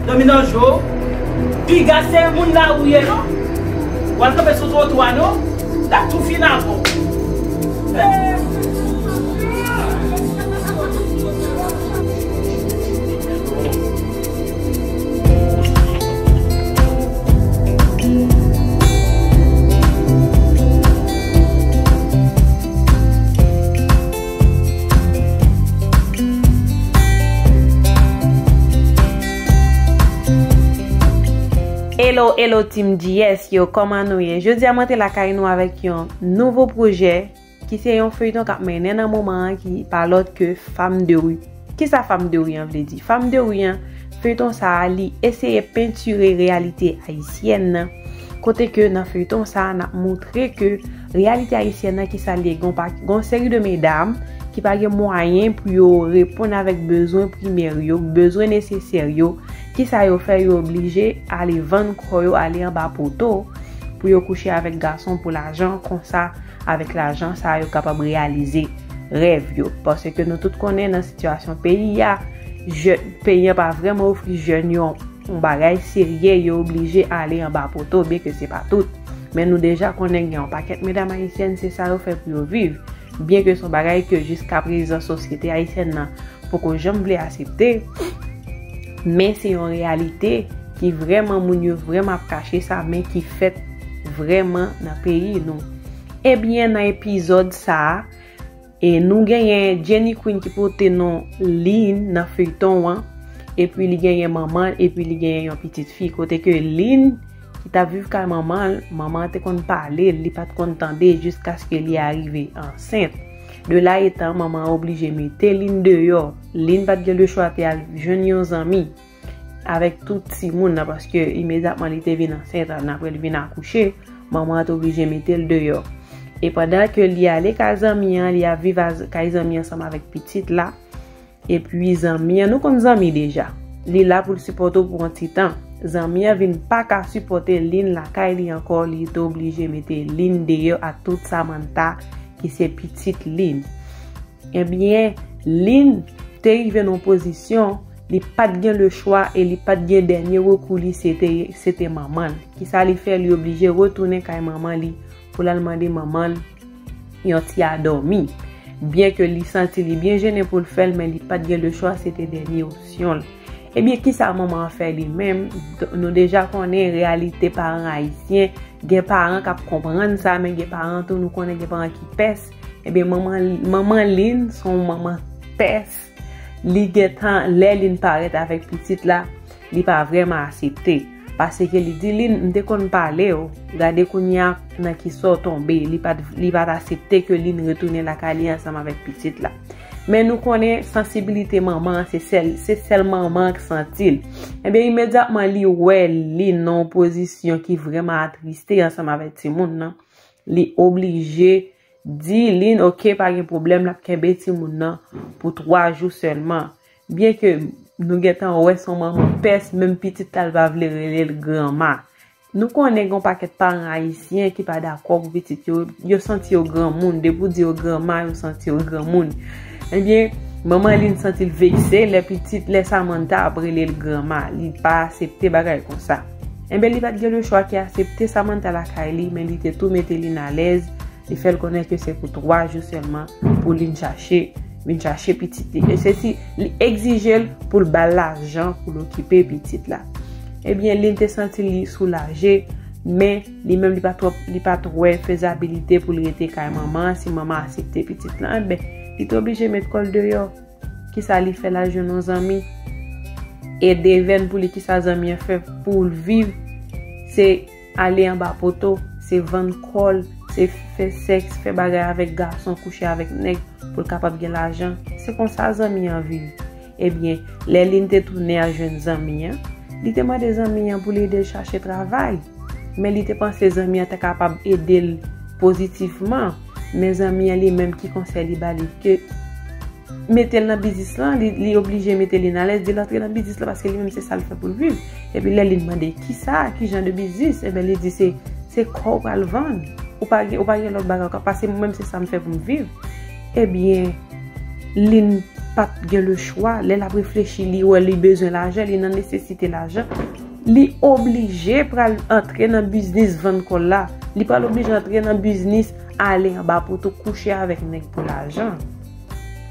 Dominan jo, piga se moun la ou ye non, wal kanpe sou twotwa non, lap tou fin avè w. Hello hello team JS yo koman nou ye jodi a mwen te lakay nou avèk yon nouvo projè ki se yon feyton kap mennen nan moman an ki pa lòt ke fam de ru. Kisa fam de ri an vle di? Fam de ri an, feyton sa a li eseye pentire reyalite ayisyèn nan, kote ke nan feyton sa a nap moutre ke reyalite ayisyèn nan kisa l ye gen yon pa gen yon seri de medam ki pa gen mwayen pou yo reponn avèk bezwen primè yo, bezwen nesesè yo, kisa yo fè yo oblije ale vann kò yo ale anba poto pou yo kouche avèk gason pou lajan konsa. Avèk lajan sa yo kapab reyalize rèv yo. Pase ke nou tout konnen nan sitiyasyon peyi ya, peyi ya pa vreman ofri jèn yo yon bagay serye, yo oblije ale anba poto, byen ke se pa tout. Men nou deja konnen gen yon pakèt medam ayisyèn se sa yo fè pou yo viv. Byen ke son bagay ke jiska prezan sosyete ayisyèn nan poko janm vle asepte, men se yon reyalite. ki vrèman moun yo vrèman ap kache sa men ki fèt vrèman nan peyi nou. Ebyen nan epizòd sa a, e nou genyen Jenny Queen ki pote non Lynn nan feyton an, epi li genyen manman l epi li genyen yon pitit fi kote ke Lynn ki tap viv kay manman l, manman an te konn pale l, li pat konn tande jiskaske li arive ansent. De la etan manman an oblije mete Lynn deyò, Lynn pat gen lechwa te al jwenn yon zanmi. Avèk tout timoun nan paske imedyatman li te vin ansent an apre li vin akouche, manman an te oblije mete l deyò. E pandan ke li ale kay zanmi an, li ap viv kay zanmi an ansanm avèk pitit la. E pi zanmi an, nou konn zanmi deja. Li la pou l sipòte w pou yon ti tan. Zanmi an vin pa ka sipòte Lynn lakay li ankò, li te oblije mete Lynn deyò ak tout Samantha ki se pitit Lynn. Ebyen, Lynn te rive nan yon pozisyon li pa t gen lechwa e li pa t gen dènye rekou li se te manman l. Kisa li fè? Li oblije retounen kay manman li pou l al mande manman l yon ti adòmi. Byen ke li santi li byen jennen pou l fè l men li pa t gen lechwa se te dènye opsyon l. Ebyen kisa manman an fè li menm? Nou deja konnen reyalite paran ayisyen, gen paran k ap konprann sa men gen paran tou nou konnen gen paran ki pès. Ebyen manman Lynn son manman pès, li gentan lè Lynn parèt avèk pitit la, li pa vrèman asepte. Pase ke li di Lynn, m te konn pale w, gade kounya nan ki sa w tonbe, li pa t asepte ke Lynn retounen lakay li ansanm avèk pitit la. Men nou konnen sansibilite manman an, se sèl manman an k santi l. Ebyen imedyatman li wè Lynn nan yon pozisyon ki vrèman atriste ansanm avèk timoun nan. Li oblije Di Lynn ok pa gen pwoblèm lap kenbe timoun nan pou 3 jou sèlman byen ke Nou gentan wè son manman pès menm pitit la l pa vle relel granma Nou konnen gon pakèt paran ayisyen ki pa dakò pou pitit yo yo santi yo granmoun depi ou di yo granma yo santi yo granmoun ebyen manman Lynn santi l vekse lè pitit lè Samantha ap relel granma li pa asepte bagay konsa. Enben li pat gen le chwa ke asepte Samantha lakay li men li te tou mete Lynn alèz, li fèl konnen ke se pou 3 jou sèlman pou Lynn chache, vin chache pitit li e se si li egzijel poul bal lajan poul okipe pitit la. Ebyen Lynn te santi li soulaje, men li menm li pa twòp li pat wè fezabilite poul rete kay manman an si manman asepte pitit lan, enben li te oblije met kòl deyò. Kisa li fè la jwenn yon zanmi e devèn pou li kisa zanmi an fè pou l viv se ale anba poto se vann kò l se fè sèks fè bagay avèk gason kouche avèk nèg pou l kapab gen lajan se konsa zanmi an viv ebyen lè lynn te tounen al jwenn zanmi an li te mande zanmi an pou l ede l chache travay men li te panse zanmi an ta kapab ede l pozitifman. Mezanmi an li menm ki konsèy li bali ke metel nan biznis lan li oblije metel li nan alèz dil antre nan biznis lan paske li menm se sal fè poul viv epi lè li mande ki sa ki jan de biznis e ben li di se se kòw pral vann ou pa gen ou pa gen lòt bagay ou ka pase mwen menm se sam fè poum viv e ben lin pat gen le chwa lè lap reflechi li wè li bezwen lajan li nan nesesite lajan. Li oblije pral antre nan biznis vann kòl la. Li pral oblije antre nan biznis ale anba poto kouche avèk nèg pou lajan.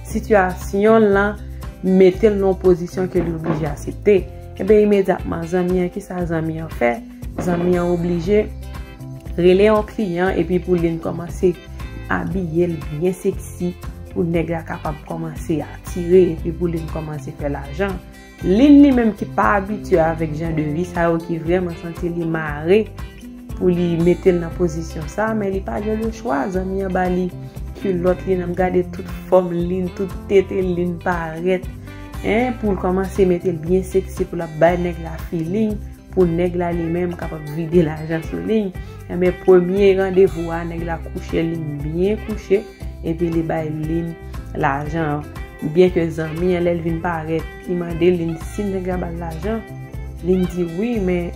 Sitiyasyon l lan mete l nan yon pozisyon ke li oblije asepte. Enben imedyatman zanmi an, ki sa zanmi an fè? Zanmi an oblije rele yon kliyan epi pou li kòmanse abiye l byen seksi pou nèg la kapab kòmanse atire epi pou li kòmanse fè lajan. Lynn li menm ki pa abitye avèk jan de vi sa yo ki vrèman santi li mare pou li mete l nan pozisyon sa men li pa gen le chwa zanmi an ba li kilòt li nan gade tout fòm Lynn tout tete Lynn parèt en pou l kòmanse mete l byen seksi pou l ap bay nèg la filing pou nèg la li menm kapab vide lajan sou Lynn enben premye randevou a nèg la kouche Lynn byen kouche. Epi li bay Lynn lajan an. Byen ke zanmi an lè l vin parèt, li mande Lynn si nèg la ba l lajan. Lynn di wi, men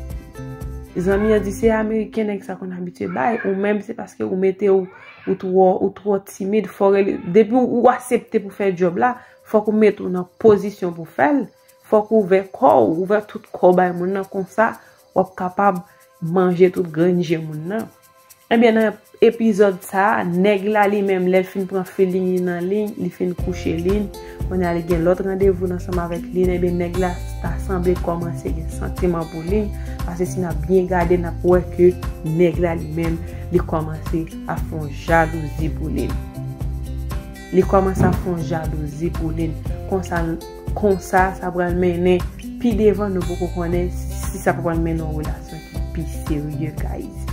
zanmi an di se ameriken nèg sa konn abitye bay, ou menm se paske ou mete w, ou twò, ou twò timid, fò w rele, depi ou asepte pou fè djòb la, fòk ou mete w nan pozisyon pou fè l, fòk ou ouvè kò w, ouvè tout kò w bay moun nan, konsa w ap kapab manje tout grenn je moun nan. Ebyen nan epizòd sa nèg la li menm lèl fin pran feeling li nan Lynn li fin kouche Lynn kounya li gen lòt randevou ansanm avèk Lynn ebyen nèg la ta sanble kòmanse gen santiman pou Lynn pase si nap byen gade nap wè ke nèg la li menm li kòmanse ap fè yon jalouzi pou Lynn li kòmanse ap fè yon jalouzi pou Lynn konsa Konsa, sa pral mennen pi devan nou poko konnen si sa pa pral mennen yon relasyon ki pi serye guys.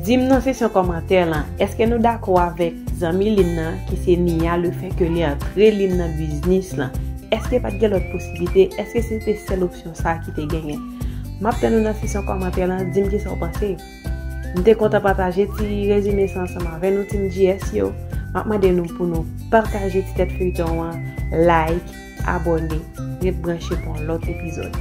Dim nan seksyon kòmantè lan, eske nou dakò avèk zanmi Lynn nan ki se Nia le fè ke li antre Lynn nan biznis lan? Eske pat gen lòt posiblite? Eske se te sèl opsyon sa ki te genyen? Map tann ou nan seksyon kòmantè lan, dim kisa ou panse. M te kontan pataje ti rezime sa ansanm avè nou Team GS yo. M ap mande nou pou nou pataje ti tèt feyton an, like, abòne, ret branche pou yon lòt epizòd.